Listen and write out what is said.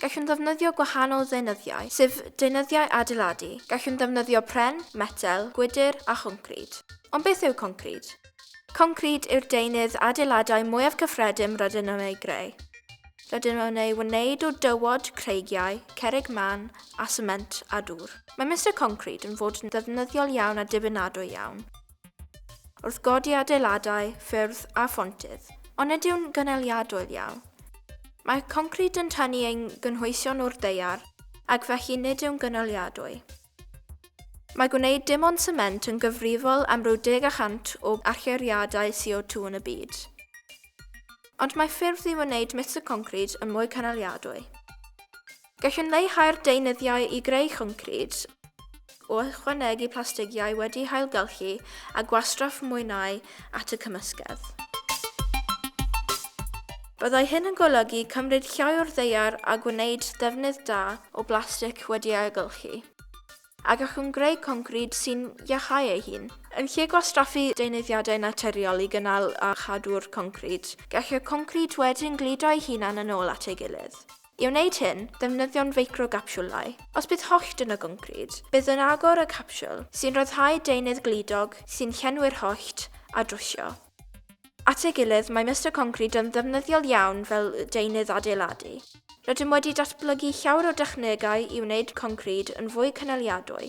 Gallwn ddefnyddio gwahanol ddeunyddiau, sef deunyddiau adeiladu. Gallwn ddefnyddio pren, metel, gwydr a choncrid. Ond beth yw concrid? Concrid yw'r deunydd adeiladau mwyaf cyffredin rydyn nhw'n ei greu. Rydyn nhw'n ei wneud o dywod, creigiau, cerrig mân a sement a dŵr. Mae Mister Concrid yn fod yn ddefnyddiol iawn a dibynadwy iawn. Wrth godi adeiladau, ffyrdd a phontydd. Ond nid yw'n gynaliadwy ddial. Mae concrid yn tynnu ein gynhwysion o'r daear ac felly nid yw'n gynaliadwy. Mae gwneud dim ond sement yn gyfrifol am ryw deg y cant o allyriadau CO2 yn y byd. Ond mae ffyrdd i wneud mister concrid yn mwy cynaliadwy. Gallwn leihau'r deunyddiau i greu concrid o ychwanegu plastigiau wedi'u hailgylchu a gwastraff mwynau at y cymysgedd. Byddai hyn yn golygu cymryd llai o'r ddaear a gwneud defnydd da o blastig wedi'i ailgylchu, a gallwn greu concrid sy'n iacháu ei hun. Yn lle gwastraffu deunyddiadau naturiol i gynnal a chadw'r concrid, gall y concrid wedyn gludo ei hunan yn ôl at ei gilydd. I wneud hyn, defnyddiwn feicrogapsiwlau. Os bydd hollt yn y goncrid, bydd yn agor y capsiwl, sy'n rhyddhau deunydd gludog sy'n llenwi'r hollt, a drwsio. At ei gilydd, mae Mister Concrid yn ddefnyddiol iawn fel deunydd adeiladu. Rydym wedi datblygu llawer o dechnegau i wneud concrid yn fwy cynaliadwy.